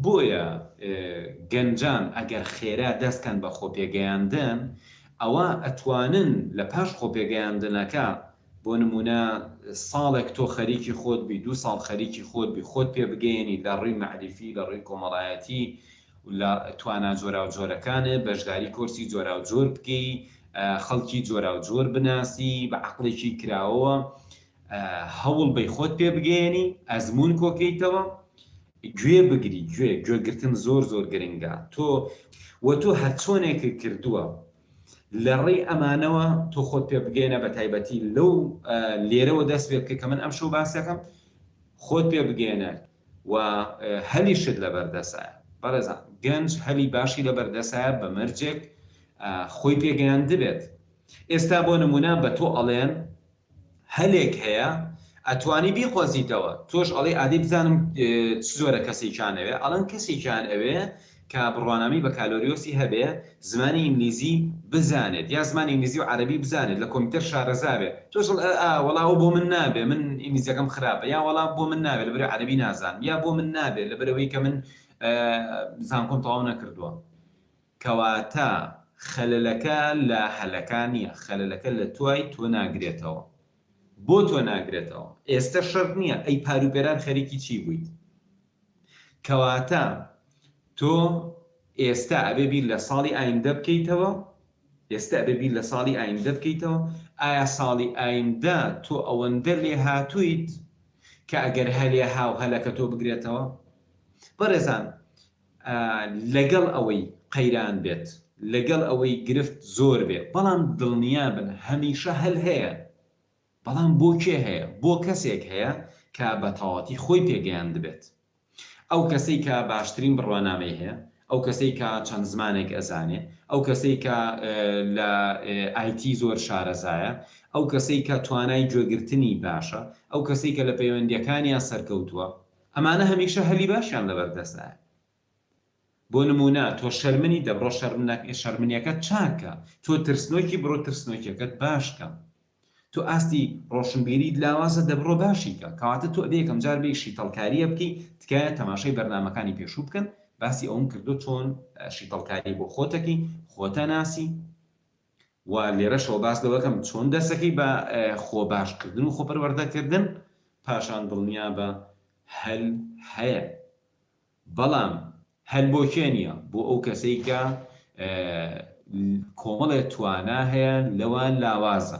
بۆیە گەنجان ئەگەر خێرا دەست کەن بە خۆپێگەیاندن ئەوا ئەتوانن لە پاش خۆپێگەیاندنەکە بۆ نمونە ساڵێک تۆ خەریکی خۆت بی دوو ساڵ خەریکی خۆت بی خۆت پێ بگەیەنی لە ڕوی مەعریفی لە ڕوی کۆمەڵایەتی و لە توانا جۆراو جۆرەکانت بەشداری کۆرسی جۆراو جۆر بکەی خەڵکی جۆراو جۆر بناسی بە عەقڵێکی کراوەوە هەوڵ بەی خۆت پێ بگەیەنی ئەزموون کۆکەیتەوە گوێ بگری گوێ گوێگرتن زۆر زۆر گرنگە تۆ وە تۆ هەرچۆنێکت کردووە لەڕێی ئەمانەوە تۆ خۆت پێ بگەێنە بە تایبەتی لەو لێرەوە دەست پێ بکە کە من ئەم شەو باسەکەم خۆت پێ بگەێنە و هەلیشت لە بەردەسە بەڕێزان گەنج هەلی باشی لە بەردەسە بە مەرجێک خۆی پێگەیان دبێت ئێستا بۆ نمونە بە تۆ ئەڵێن هەلێک هەیە ئەتوانی بیقۆزیتەوە تۆش ئەڵێی ئادەی بزانم چ جۆرە کەسێکیان ئەوێ ئەڵێن کەسێکیان ئەوێ کە بڕوانامەی بەکالۆریۆسی هەبێ زمانی ئینگلیزی بزانێت یا زمانی ئینگلیزی و عەرەبی بزانێت لە کۆمپیوتەر شارەزا بێ تۆش ئەڵێ ئا ئا وەڵا ئەوە بۆ من نابێ من ئینگلیزیەکەم خراپە یا وەڵا بۆ من نابێ لەبەرەوەی عەرەبی نازانم یا بۆ من نابێ لەبەرەوەی کە من زانکۆم تەواو نەکردووە کەواتە خەلەلەکە لە هەلەکا نیە خەلەلەکە لە توای تۆ ناگرێتەوە بۆ تۆ ناگرێتەوە ئێستە شەرت نیە ئەی پارو پێران خەریکی چی بویت کەواتە تۆ ئێستە ئەبێ بیر لە ساڵی ئایندە بکەیتەوە ئێستە ئەبێ بیر لە ساڵی ئایندە بکەیتەوە ئایا ساڵی ئایندە تۆ ئەوەندە لێ هاتویت کە ئەگەر هەلێ هاو هەلەکە تۆ بگرێتەوە بەڕێزان لەگەڵ ئەوەی قەیران بێت، لەگەڵ ئەوەی گرفت زۆر بێ، بەڵام دڵنیابن هەمیشە هەل هەیە، بەڵام بۆ کێ هەیە؟ بۆ کەسێک هەیە کە بە تەواوەتی خۆی پێگەیاندبێت. ئەو کەسەی کە باشترین بڕوانامەی هەیە، ئەو کەسەی کە چەند زمانێک ئەزانێ، ئەو کەسەی کە لە IT زۆر شارەزایە، ئەو کەسەی کە توانای گوێگرتنی باشە، ئەو کەسەی کە لە پەیوەندییەکانیا سەرکەوتووە، ئەمانە هەمیشە هەلی باشیان لەبەردەستایە بۆ نمونە تۆ شەرمنی دە بڕۆ شەرمنەک شەرمنیەکەت چاککە تۆ ترسنۆکی بڕۆ ترسنۆکیەکەت باشکە تۆ ئاستی ڕۆشنبیریت لاوازە دە بڕۆ باشیکە کەواتە تۆ ئەبێ یەکەم جار بێی شیتەڵکاریە بکەی تکایە تەماشای بەرنامەکانی پێشوو بکەن باسی ئەوەم کردوە چۆن شیتەڵکاری بۆ خۆتەکەی خۆتە ناسی و لێرەشەوە باس لەوە کەم چۆن دەرسەکەی بە خۆ باش کردن و خۆ پەروەردە کردن پاشان دڵنیابە هەل هەیە بەڵام هەل بۆ کێ نییە بۆ ئەو کەسەی کە کۆمەڵێ توانا هەیە لەوان لاوازە